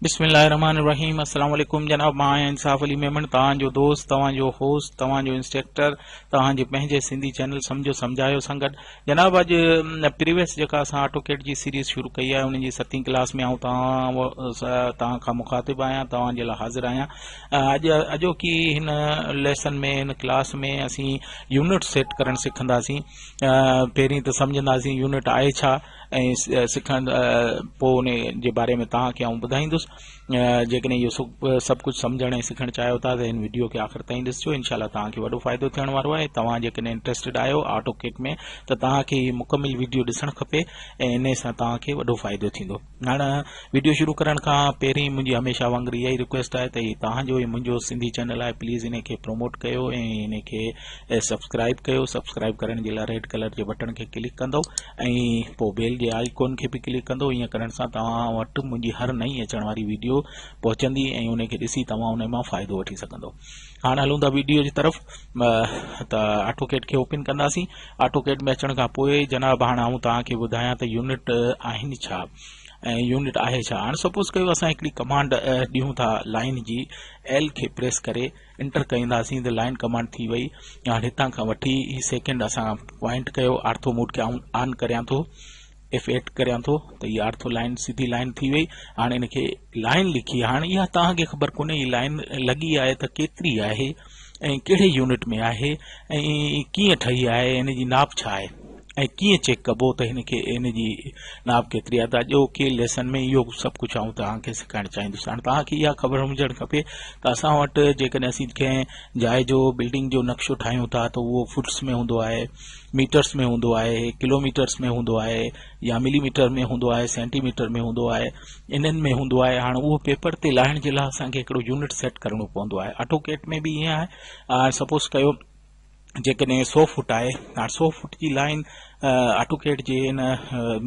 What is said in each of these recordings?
بسم الله الرحمن الرحيم السلام عليڪم جناب مان آهيان انصاف علي ميمڻ توهان جو دوست توهان جو هوسٽ توهان جو انسٽرڪٽر توهان جي پنهنجي سنڌي چينل سمجهو سمجهايو سان گڏ جناب اڄ پريويس جيڪا اسان آٽو ڪيٽ جي سيريز شروع ڪئي آهي ان جي ستين ڪلاس ۾ آئون توهان کان مخاطب آهيان توهان جي لاء حاضر آهيان اڄ اڄوڪي هن ليسن ۾ هن ڪلاس ۾ اسين يونٽ سيٽ ڪرڻ سکنداسين پهرين ته سمجهنداسين يونٽ آهي ڇا ۽ سکڻ پوء ان جي باري ۾ توهان کي آئون ٻڌائيندس جيڪڏهن اهو سڀ ڪجهه سمجهڻ ۽ سکڻ چاهيو ٿا ته هن وڊيو کي آخر تائين ڏسجو انشاء الله توهان کي وڏو فائدو ٿيڻ وارو آهي توهان جيڪڏهن انٽرسٽيڊ آهيو آٽو ڪيٽ ۾ ته توهان کي هي مڪمل وڊيو ڏسڻ کپي ۽ ان سان توهان کي وڏو فائدو ٿيندو هاڻي وڊيو شروع ڪرڻ کان پهرين منهنجي هميشه وانگر اها ئي رڪويسٽ آهي ته هي توهان جو ۽ منهنجو سنڌي چينل آهي پليز ان کي پروموٽ ڪيو ۽ ان کي ۽ سبسڪرائب ڪيو سبسڪرائب ڪرڻ جي لاء ريڊ ڪلر جي بٽڻ کي ڪلڪ ڪندو ۽ پوء بيل جي آئيڪون کي به ڪلڪ ڪندو ائين ڪرڻ سان توهان وٽ منهنجي هر نئين اچڻ واري ويڊيو پهچندي ۽ ان کي ڏسي توهان ان مان فائدو وٺي سگهندو هاڻ هلون ٿا ويڊيو جي طرف ته آٽو ڪيٽ کي اوپن ڪنداسين آٽو ڪيٽ ۾ اچڻ کان پوء جناب هاڻ آئون توهان کي ٻڌايان ته يونٽ آهن ڇا ۽ يونٽ آهي ڇا هاڻ سپوز ڪيو اسان هڪڙي ڪمانڊ ڏيون ٿا لائن جي ايل کي پريس ڪري انٽر ڪرينداسين ته لائن ڪمانڊ ٿي وئي هاڻ هتان کان وٺي هي سيڪنڊ اسان پوائنٽ ڪيو آرٿو موڊ کي آئون آن ڪريان ٿو ايف ايٽ ڪريان ٿو ته هي آرٿو لائن سڌي لائن ٿي وئي هاڻ ان کي لائن لکي هاڻ اها توهان کي خبر ڪونهي هي لائن لڳي آهي ته ڪيتري آهي ۽ ڪهڙي يونٽ ۾ آهي ۽ ڪيئن ٺهي آهي ان جي ناپ ڇا آهي ۽ ڪيئن چيڪ ڪبو ته هن کي ان جي ناپ ڪيتري آهي ته اڄو ڪي ليسن ۾ اهو سڀ ڪجهه آئون توهان کي سيکارڻ چاهيندس هاڻي توهان کي اها خبر هجڻ کپي ته اسان وٽ جيڪڏهن اسين ڪنهن جاء جو بلڊنگ جو نقشو ٺاهيون ٿا ته اهو فٽس ۾ هوندو آهي ميٽرس ۾ هوندو آهي ڪلوميٽرس ۾ هوندو آهي يا ملي ميٽر ۾ هوندو آهي سينٽي ميٽر ۾ هوندو آهي انهن ۾ هوندو آهي هاڻي اهو پيپر تي لاهڻ جي لاء اسان کي هڪڙو يونٽ سيٽ ڪرڻو پوندو آهي آٽو ڪيٽ ۾ به ائين آهي سپوز ڪيو جيڪڏهن سؤ فوٽ آهي هاڻ سؤ فوٽ جي لائين آٽو ڪيٽ جي ان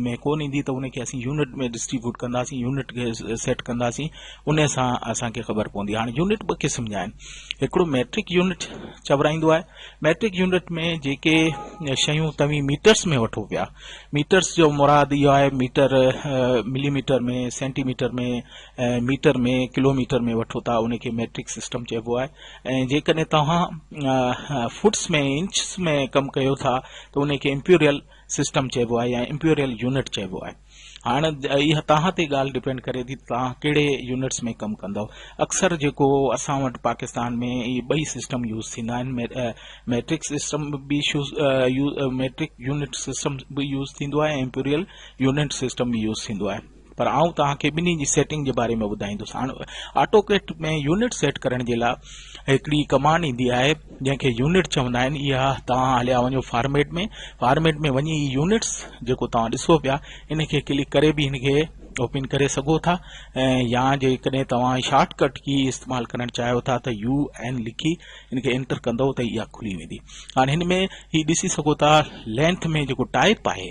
۾ ڪون ايندي ته ان کي اسين يونٽ ۾ ڊسٽريبيوٽ ڪنداسين يونٽ کي سيٽ ڪنداسين ان سان اسانکي خبر پوندي هاڻ يونٽ ٻه قسم جا آهن هڪڙو ميٽرڪ يونٽ چورائيندو آهي ميٽرڪ يونٽ ۾ جيڪي شيون توهين ميٽرس ۾ وٺو پيا ميٽرس جو مراد اهو آهي metre millimetre ۾ centimetre ۾ metre ۾ kilometre ۾ وٺو ٿا ان کي ميٽرڪ سسٽم چئبو آهي ۽ جيڪڏهن توهان فوٽس ۾ انچس ۾ ڪم ڪيو ٿا ته ان کي امپيريل سسٽم چئبو آهي يا امپيريل يونٽ چئبو آهي هاڻ اها توهان تي ڳالهه ڊپينڊ ڪري ٿي ته توهان ڪهڙي يونٽس ۾ ڪم ڪندو اڪثر جيڪو اسان وٽ پاڪستان ۾ اهي ٻئي سسٽم يوز ٿيندا آهن ميٽرڪ سسٽم به ميٽرڪ يونٽ سسٽم به يوز ٿيندو آهي ۽ امپيريل يونٽ سسٽم به يوز ٿيندو آهي پر آئون توهان کي ٻنهي جي سيٽنگ جي باري ۾ ٻڌائيندس هاڻ آٽوڪيٽ ۾ يونٽ سيٽ ڪرڻ جي لاء هڪڙي ڪمانڊ ايندي آهي جنهن کي يونٽ چوندا آهن اها توهان هليا وڃو فارميٽ ۾ فارميٽ ۾ وڃي هي يونٽس جيڪو توهان ڏسو پيا ان کي ڪلڪ ڪري به هن کي اوپن ڪري سگهو ٿا ۽ يا جيڪڏهن توهان شارٽ ڪٽ ڪي استعمال ڪرڻ چاهيو ٿا ته يو اين لکي ان کي انٽر ڪندو ته اها کلي ويندي هاڻ هن ۾ هي ڏسي سگهو ٿا لينٿ ۾ جيڪو ٽائپ آهي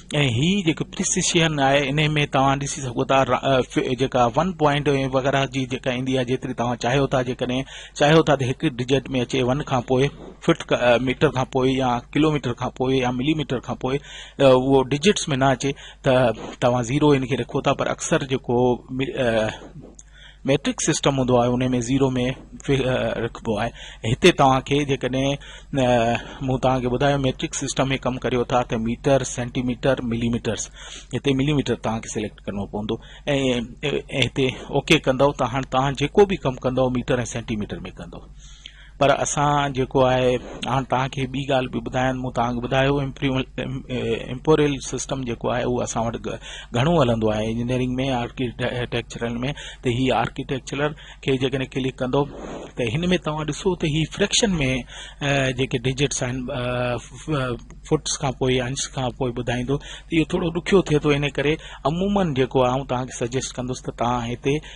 ۽ هي جيڪو پريسيشن آهي انهي ۾ توهان ڏسي سگهو ٿا جيڪا ون پوائنٽ ۽ وغيره جي جيڪا ايندي آهي جيتري توهان چاهيو ٿا جيڪڏهن چاهيو ٿا ته هڪ ڊجيٽ ۾ اچي ون کان پوء فٽ ميٽر کان پوء يا ڪلوميٽر کان پوء يا ملي ميٽر کان پوء اهو ڊجيٽس ۾ نه اچي ته توهان زيرو ان کي رکو ٿا پر اڪثر جيڪو ميٽرڪ سسٽم هوندو آهي انهي ۾ زيرو ۾ رکبو آهي هتي توهان کي جيڪڏهن مون توهان کي ٻڌايو ميٽرڪ سسٽم ۾ ڪم ڪريو ٿا ته metre centimetre millimetres هتي ملي ميٽر توهان کي سليڪٽ ڪرڻو پوندو ۽ هتي اوڪي ڪندو ته هاڻ توهان جيڪو به ڪم ڪندو ميٽر ۽ سينٽي ميٽر ۾ ڪندو پر اسان جيڪو آهي هاڻ توهان کي ٻي ڳالهه به ٻڌايان مون توهان کي ٻڌايو امپوريل سسٽم جيڪو آهي اهو اسان وٽ گهڻو هلندو آهي انجنيئرنگ ۾ آرڪيٽيڪچرل ۾ ته هي آرڪيٽيڪچرل کي جيڪڏهن ڪلڪ ڪندو ته هن ۾ توهان ڏسو ته هي فريڪشن ۾ جيڪي ڊجٽس آهن فٽس کان پوء انچ کان پوء ٻڌائيندو ته اهو ٿورو ڏکيو ٿئي ٿو ان ڪري عمومن جيڪو آئون توهان کي سجيسٽ ڪندس ته توهان هتي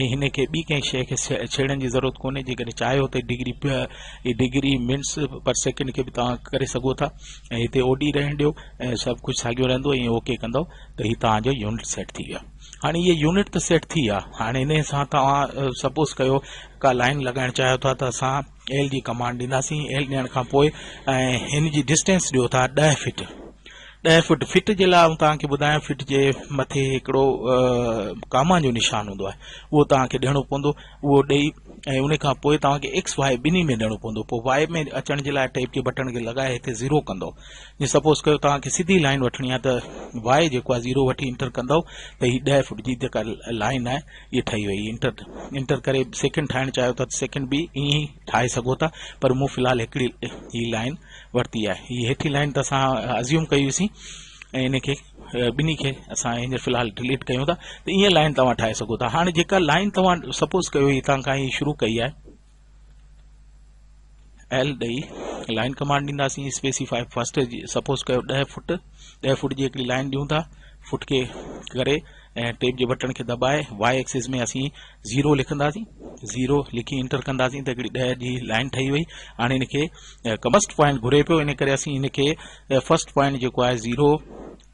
۽ هن کي ٻي ڪنهن شيء کي ڇيڙڻ جي ضرورت ڪونهي جيڪڏهن چاهيو ته ڊگري اهي ڊگري منٽس پر سيڪنڊ کي به توهان ڪري سگهو ٿا ۽ هتي اوڊي رهڻ ڏيو ۽ سڀ ڪجهه ساڳيو رهندو ائين اوڪي ڪندو ته هي توهان جو يونٽ سيٽ ٿي ويو هاڻي هي يونٽ ته سيٽ ٿي ويا هاڻي ان سان توهان سپوز ڪيو ڪا لائن لڳائڻ چاهيو ٿا ته اسان ايل جي ڪمانڊ ڏينداسين ايل ڏيڻ کان پوء هن جي ڊسٽينس ڏيو ٿا ڏهه فٽ ڏهه فٽ فٽ جي لاء آئون تان کي ٻڌايان فٽ جي مٿي هڪڙو ڪاما جو نشان هوندو آهي اهو تان کي ڏيڻو پوندو اهو ڏئي ۽ ان کان پوء تان کي ايڪس وائي ٻنهي ۾ ڏيڻو پوندو پوء وائي ۾ اچڻ جي لاء ٽيپ جي بٽڻ کي لڳائي هتي زيرو ڪندو جي سپوز ڪيو تان کي سڌي لائن وٺڻي آهي ته وائي جيڪو آهي زيرو وٺي انٽر ڪندو ته هي ڏهه فٽ جي جيڪا لائن آهي اهي ٺهي وئي انٽر انٽر ڪري سيڪنڊ ٺاهڻ چاهيو ٿا ته سيڪنڊ به ائين ئي ٺاهي سگهو ٿا پر مون في الحال هڪڙي هي لائن ورتي آهي هي هيٺي لائن ته اسان ازيوم ڪئي هئيسين ۽ ان کي ٻنهي کي اسان هينئر في الحال ڊليٽ ڪيون ٿا ته ائين لائن توهان ٺاهي سگهو ٿا هاڻي جيڪا لائن توهان سپوز ڪيو هتان کان هي شروع ڪئي آهي ايل ڏئي لائن ڪمانڊ ڏينداسين اسپيسيفاء فرسٽ سپوز ڪيو 10 فٽ 10 فٽ جي هڪڙي لائن ڏيون ٿا فٽ کي ڪري ۽ ٽيپ جي بٽڻ کي دٻائي واء ايڪسس ۾ اسين 0 لکنداسين 0 لکي انٽر ڪنداسين ته هڪڙي 10 جي لائن ٺهي وئي هاڻي ان کي ڪمسٽ پوائنٽ گهري پيو ان ڪري اسين ان کي فرسٽ پوائنٽ جيڪو آهي 0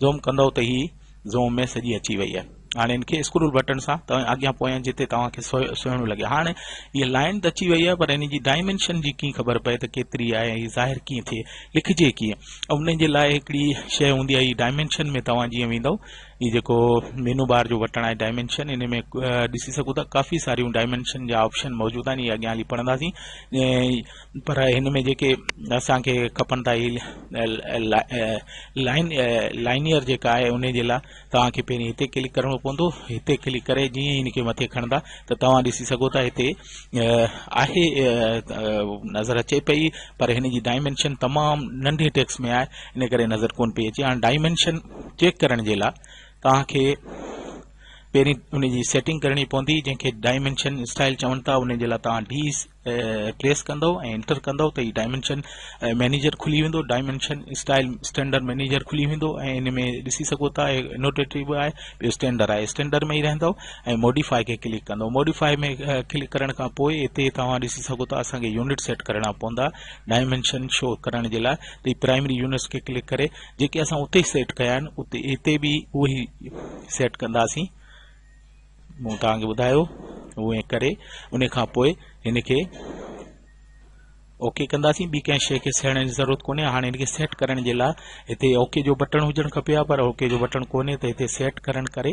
زوم ڪندؤ ته هي زوم ۾ سڄي اچي وئي آهي هاڻي ان کي اسڪرول بٽڻ سان توهان اڳيان پويان جتي توهان کي سهڻو لڳي هاڻي هي لائن ته اچي وئي آهي پر ان جي ڊائمنشن جي ڪيئن خبر پئي ته ڪيتري آهي ۽ ظاهر ڪيئن ٿئي لکجي ڪيئن ان جي لاء هڪڙي شيء هوندي آهي ڊائمنشن ۾ توهان جيئن ويندو هي جيڪو مينو بار جو بٽڻ آهي ڊائمنشن ان ۾ ڏسي سگهو ٿا ڪافي ساريون ڊائمنشن جا آپشن موجود آهن اهي اڳيان هلي پڙهنداسين پر هن ۾ جيڪي اسان کي کپن ٿا اهي لائن لائنيئر جيڪا آهي ان جي لاء توهان کي پهرين هتي ڪلڪ ڪرڻو پوندو هتي ڪلڪ ڪري جيئن هن کي مٿي کڻندا ته توهان ڏسي سگهو ٿا هتي آهي نظر اچي پئي پر هن جي ڊائمنشن تمام ننڍي ٽيڪس ۾ آهي ان ڪري نظر ڪون پئي اچي هاڻي ڊائمنشن چيڪ ڪرڻ جي لاء توهان کي پهرين ان جي سيٽنگ ڪرڻي پوندي جنهن کي ڊائمنشن اسٽائل چون ٿا ان جي لاء توهان ڊي پريس ڪندؤ ۽ انٽر ڪندؤ ته هي ڊائمينشن مينيجر کلي ويندو ڊائمينشن اسٽائل اسٽينڊر مينيجر کلي ويندو ۽ ان ۾ ڏسي سگهو ٿا انوٽيٽري به آهي ٻيو اسٽينڊر آهي اسٽينڊر ۾ ئي رهندو ۽ موڊيفاء کي ڪلڪ ڪندو موڊيفاء ۾ ڪلڪ ڪرڻ کان پوء هتي توهان ڏسي سگهو ٿا اسانکي يونٽ سيٽ ڪرڻا پوندا ڊائمينشن شو ڪرڻ جي لاء ته هي پرائمري يونٽس کي ڪلڪ ڪري جيڪي اسان اتي سيٽ ڪيا آهن اتي هتي به اهي سيٽ ڪنداسين مون توهان کي ٻڌايو اهو ڪري ان کان پوء هن کي اوڪي ڪنداسين ٻي ڪنهن شيء کي سهڻ جي ضرورت ڪونهي هاڻي ان کي سيٽ ڪرڻ جي لاء هتي اوڪي جو بٽڻ هجڻ کپي ها پر اوڪي جو بٽڻ ڪونهي ته هتي سيٽ ڪرڻ ڪري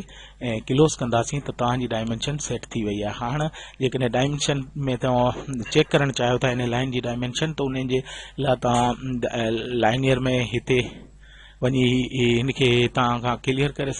۽ ڪلوز ڪنداسين ته توهان جي ڊائمنشن سيٽ ٿي وئي آهي هاڻ جيڪڏهن ڊائمنشن ۾ توهان چيڪ ڪرڻ چاهيو ٿا ان لائن جي ڊائمنشن ته ان جي لاء توهان لائنيئر ۾ هتي وڃي هن کي هتان کان ڪليئر ڪري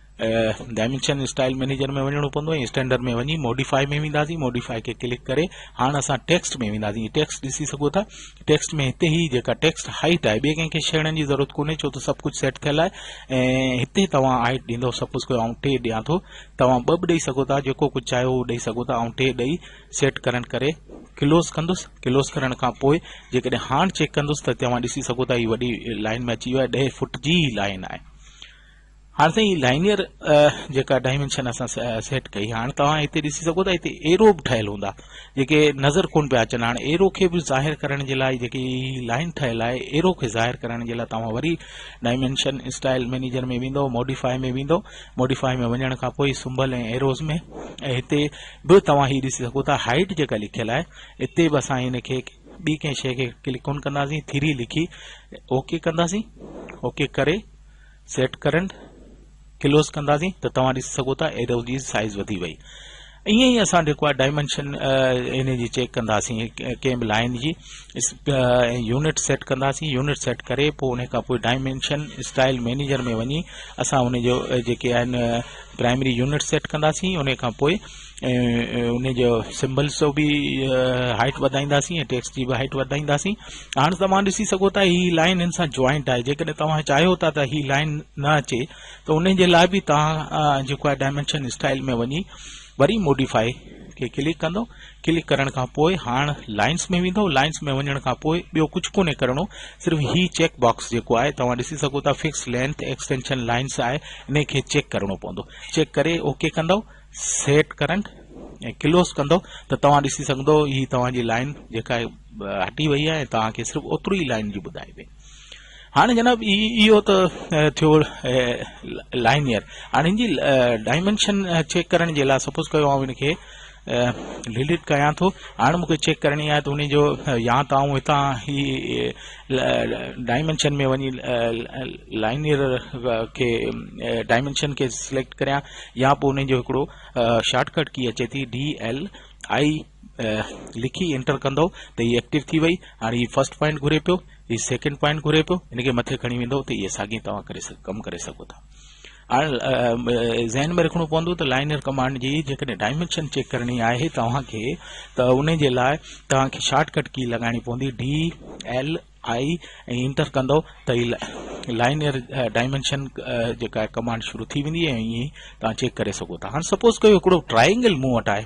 ڊائمينشن اسٽائل مئنيجر ۾ وڃڻو پوندو ۽ اسٽينڊرڊ ۾ وڃي موڊيفائي ۾ وينداسين موڊيفائي کي ڪلڪ ڪري هاڻ اسان ٽيڪسٽ ۾ وينداسين ٽيڪسٽ ڏسي سگهو ٿا ٽيڪسٽ ۾ هتي هي جيڪا ٽيڪسٽ هائيٽ آهي ٻي ڪنهن کي شيڙن جي ضرورت ڪونهي ڇو ته سڀ ڪجهه سيٽ ٿيل آهي ۽ هتي توهان هائيٽ ڏيندو سپوز ڪيو آئون ٽي ڏيان ٿو توهان ٻه به ڏيئي سگهو ٿا جيڪو ڪجهه چاهيو اهو ڏيئي سگهو ٿا آئون ٽي ڏيئي سيٽ ڪرڻ ڪري ڪلوز ڪندس ڪلوز ڪرڻ کان پوء جيڪڏهن هاڻ چيڪ ڪندس ته توهان ڏسي سگهو ٿا هي وڏي لائن ۾ اچي ويو آهي ڏهه فوٽ جي لائن آهي هاڻ سائين هي لائنيئر جيڪا ڊائمينشن اسان سيٽ ڪئي هاڻ توهان هتي ڏسي سگهو ٿا هتي ايرو به ٺهيل هوندا جيڪي نظر ڪون پيا اچن هاڻ ايرو کي به ظاهر ڪرڻ جي لاء جيڪي لائن ٺهيل آهي ايرو کي ظاهر ڪرڻ جي لاء توهان وري ڊائمينشن اسٽائل مينيجر ۾ ويندو موڊيفائي ۾ ويندو موڊيفائي ۾ وڃڻ کان پوء سمبل ۽ ايروز ۾ ۽ هتي به توهان هي ڏسي سگهو ٿا هائيٽ جيڪا لکيل آهي اتي به اسان ان کي ٻي ڪنهن شيء کي ڪلڪ ڪون ڪنداسين ٿري لکي اوڪي ڪنداسين اوڪي ڪري سيٽ ڪرنٽ ڪلوز ڪنداسين ته توهان ڏسي سگهو ٿا ايرو جي سائيز وڌي وئي ائين ئي اسان جيڪو آهي ڊائمنشن ان جي چيڪ ڪنداسين ڪنهن به لائن جي يونٽ سيٽ ڪنداسين يونٽ سيٽ ڪري پوء ان کان پوء ڊائمنشن اسٽائل مينيجر ۾ وڃي اسان ان جو جيڪي آهن پرائمري يونٽ سيٽ ڪنداسين ان کان پوء ان جو سمبلس جو به هائيٽ وڌائينداسين ۽ ٽيڪسٽ جي به هائيٽ وڌائينداسين هاڻ توهان ڏسي سگهو ٿا هي لائن ان سان جوائنٽ آهي جيڪڏهن توهان چاهيو ٿا ته هي لائن نه اچي ته ان جي لاء به توهان جيڪو آهي ڊائمنشن اسٽائل ۾ وڃي وري موڊيفائي کي ڪلڪ ڪندو ڪلڪ ڪرڻ کان پوء هاڻ لائنس ۾ ويندو لائنس ۾ وڃڻ کان پوء ٻيو ڪجهه ڪونهي ڪرڻو صرف هي چيڪ باڪس جيڪو آهي توهان ڏسي سگهو ٿا فڪس لينٿ ايڪسٽينشن لائنس آهي ان کي چيڪ ڪرڻو پوندو چيڪ ڪري اوڪي ڪندو سيٽ ڪرنٽ ۽ ڪلوز ڪندو ته توهان ڏسي سگهندو هي توهان جي لائن جيڪا هٽي وئي آهي توهان کي صرف اوترو ئي لائن جي ٻڌائبي هاڻي جناب اهو ته ٿيو لائنيئر هاڻي ان جي ڊائمنشن چيڪ ڪرڻ جي لاء سپوز ڪيو آئون ان کي ڊيليٽ ڪيان ٿو هاڻي مونکي چيڪ ڪرڻي آهي ته ان جو يا ته آئون هتان هي ڊائمينشن ۾ وڃي لائنيئر کي ڊائمينشن کي سليڪٽ ڪريان يا پوء ان جو هڪڙو شارٽ ڪٽ ڪي اچي ٿي ڊي ايل آئي لکي انٽر ڪندو ته هي ايڪٽيو ٿي وئي هاڻي هي فرسٽ پوائنٽ گهري پيو هي سيڪنڊ پوائنٽ گهري پيو ان کي مٿي کڻي ويندو ته هي ساڳي توهان ڪري سگهو ڪم ڪري سگهو ٿا هاڻي ذهن ۾ رکڻو پوندو ته لائنر ڪمانڊ جي جيڪڏهن ڊائمينشن چيڪ ڪرڻي آهي توهان کي ته انهي جي لاء توهان کي شارٽ ڪٽ ڪي لڳائڻي پوندي DLI ۽ انٽر ڪندو ته هي لائنر ڊائمينشن جيڪا ڪمانڊ شروع ٿي ويندي ۽ ائين توهان چيڪ ڪري سگهو ٿا هاڻي سپوز ڪيو هڪڙو ٽرائينگل مون وٽ آهي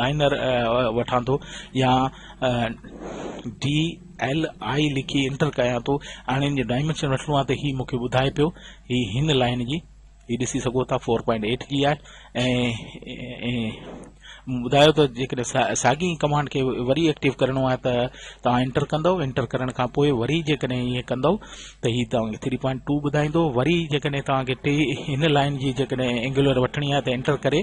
لائنر وٺان ٿو يا ڊي ايل آء لکي انٽر ڪيان ٿو هاڻي ان جو ڊائمنشن وٺڻو آهي ته هي مون کي ٻڌائي پيو هي هن لائن جي هي ڏسي سگهو ٿا فور پوائنٽ ايٽ جي آهي ۽ ٻڌايو ته جيڪڏهن ساڳي ڪمانڊ کي وري ايڪٽيو ڪرڻو آهي ته توهان انٽر ڪندو انٽر ڪرڻ کان پوء وري جيڪڏهن ائين ڪندو ته هي توهانکي ٿري پوائنٽ ٽو ٻڌائيندو وري جيڪڏهن توهانکي ٽي هن لائن جي جيڪڏهن اينگولر وٺڻي آهي ته انٽر ڪري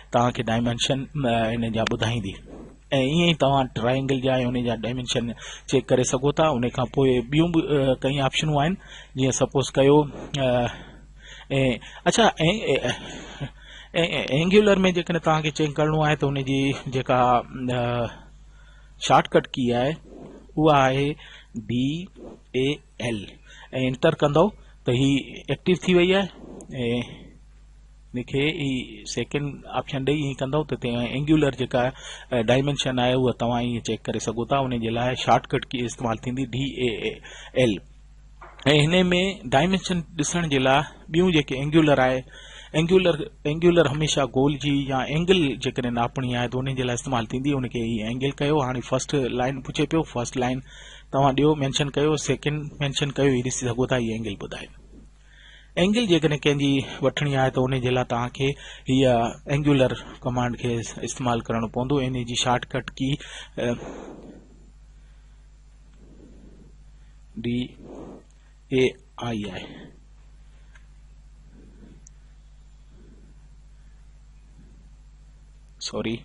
توهان کي ڊائمينشن ان جا ٻڌائيندي ۽ ائين ئي توهان ٽرائينگل جا ۽ ان جا ڊائمينشن چيڪ ڪري سگهو ٿا ان کان پوء ٻيون به ڪئين آپشنون آهن جيئن سپوز ڪيو ۽ اڇا اينگيولر ۾ جيڪڏهن توهان کي چيڪ ڪرڻو آهي ته ان جي جيڪا شارٽ ڪٽ ڪي آهي اها آهي بي اي ايل ۽ انٽر ڪندو ته هي ايڪٽيو ٿي وئي آهي ان کي ئي سيڪنڊ آپشن ڏئي ائين ڪندئو ته اينگيولر جيڪا ڊائمينشن آهي اها توهان ائين چيڪ ڪري سگهو ٿا ان جي لاء شارٽ ڪٽ ڪي استعمال ٿيندي DAAL ۽ هن ۾ ڊائمينشن ڏسڻ جي لاء ٻيون جيڪي اينگيولر آهي اينگيولر اينگيولر هميشه گول جي يا اينگل جيڪڏهن ناپڻي آهي ته ان جي لاء استعمال ٿيندي ان کي ئي اينگل ڪيو هاڻي فرسٽ لائن پڇي پيو فرسٽ لائن توهان ڏيو مينشن ڪيو سيڪنڊ مينشن ڪيو هي ڏسي سگهو ٿا هي اينگل ٻڌائي اينگل جيڪڏهن ڪنهن جي وٺڻي آهي ته ان جي لاء توهان کي هيء اينگيولر ڪمانڊ کي استعمال ڪرڻو پوندو ان جي shortcut key D A I آهي سوري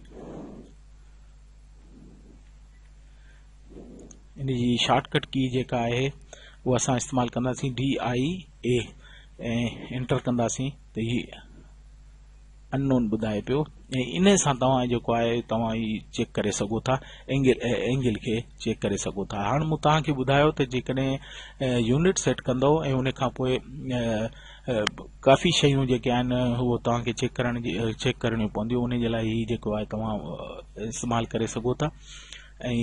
ان جي شارٽ ڪٽ ڪي جيڪا آهي اها اسان استعمال ڪنداسين ڊي آء اي ۽ انٽر ڪنداسين ته هي ان نون ٻڌائي پيو ۽ ان سان توهان جيڪو آهي توهان هي چيڪ ڪري سگهو ٿا اينگل اينگل کي چيڪ ڪري سگهو ٿا هاڻ مون توهان کي ٻڌايو ته جيڪڏهن يونٽ سيٽ ڪندو ۽ ان کان پوء ڪافي شيون جيڪي آهن اهو توهان کي چيڪ ڪرڻ جي چيڪ ڪرڻيون پونديون ان جي لاء هي جيڪو آهي توهان استعمال ڪري سگهو ٿا ۽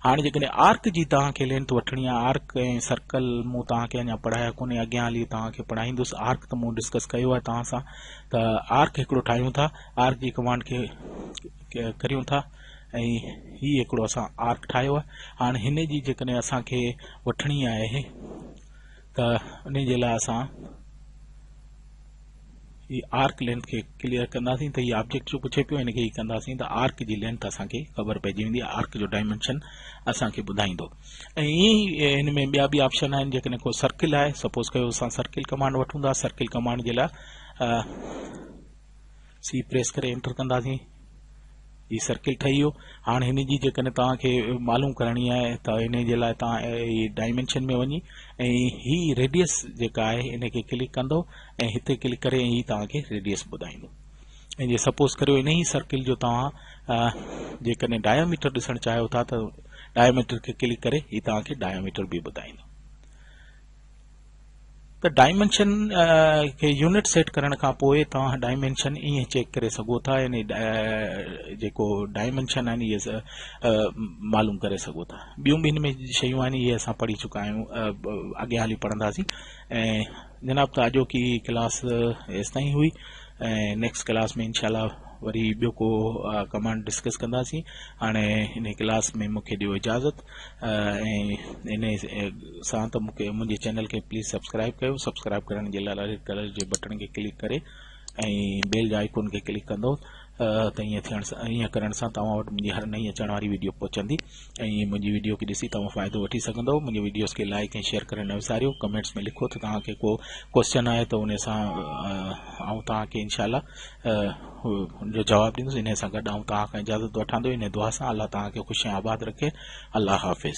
هاڻي جيڪڏهن آرڪ جي توهان کي لينٿ وٺڻي آهي آرڪ ۽ سرڪل مون توهان کي اڃا پڙهايا ڪونهي اڳيان هلي توهان کي پڙهائيندس آرڪ ته مون ڊسڪس ڪيو آهي توهان سان ته آرڪ هڪڙو ٺاهيون ٿا آرڪ جي ڪمانڊ کي ڪريون ٿا ۽ هي هڪڙو اسان آرڪ ٺاهيو آهي هاڻي هن جي جيڪڏهن اسان کي وٺڻي آهي ته انهي جي لاء اسان هي آرڪ لينٿ کي ڪليئر ڪنداسين ته هي آبجيڪٽ جو پڇي پيو هن کي هي ڪنداسين ته آرڪ جي لينٿ اسان کي خبر پئجي ويندي آرڪ جو ڊائمنشن اسان کي ٻڌائيندو ۽ ائين ئي هن ۾ ٻيا به آپشن آهن جيڪڏهن ڪو سرڪل آهي سپوز ڪيو اسان سرڪل ڪمانڊ وٺون ٿا سرڪل ڪمانڊ جي لاء سي پريس ڪري انٽر ڪنداسين هي سرڪل ٺهي ويو هاڻ هن جي جيڪڏهن توهان کي معلوم ڪرڻي آهي ته ان جي لاء توهان هي ڊائمنشن ۾ وڃي ۽ هي ريڊيس جيڪا آهي ان کي ڪلڪ ڪندو ۽ هتي ڪلڪ ڪري هي توهان کي ريڊيس ٻڌائيندو ۽ جي سپوز ڪريو ان ئي سرڪل جو توهان جيڪڏهن ڊايوميٽر ڏسڻ چاهيو ٿا ته ڊايوميٽر کي ڪلڪ ڪري هي توهان کي ڊايوميٽر به ٻڌائيندو ته ڊائمينشن کي يونٽ سيٽ ڪرڻ کان پوء توهان ڊائمينشن ائين چيڪ ڪري سگهو ٿا يعني جيڪو ڊائمينشن آهن اهي معلوم ڪري سگهو ٿا ٻيون به هن ۾ شيون آهن اهي اسان پڙهي چڪا آهيون اڳيان هلي پڙهنداسين ۽ جناب ته اڄوڪي ڪلاس ايستائين هئي ۽ نيڪسٽ ڪلاس ۾ انشاء الله وري ٻيو ڪو ڪمانڊ ڊسڪس ڪنداسين هاڻي ان ڪلاس ۾ مونکي ڏيو اجازت ۽ ان سان ته مونکي منهنجي چينل کي پليز سبسڪرائب ڪيو سبسڪرائب ڪرڻ جي لاء ريڊ ڪلر جي بٽڻ کي ڪلڪ ڪري ۽ بيل جي آئيڪون کي ڪلڪ ڪندو ته ائين ٿيڻ سان ائين ڪرڻ سان توهان وٽ منهنجي هر نئين اچڻ واري ويڊيو پهچندي ۽ منهنجي وڊيو کي ڏسي توهان فائدو وٺي سگهندؤ منهنجي وڊيوز کي لائڪ ۽ شيئر ڪرڻ نه وساريو ڪمينٽس ۾ لکو ته توهان کي ڪو ڪويسچن آهي ته ان سان آئون توهان کي انشاء الله ان جو جواب ڏيندس ان سان گڏ آئون توهان کان اجازت وٺان ٿو ان دعا سان الله توهان کي خوش ۽ آباد رکي الله حافظ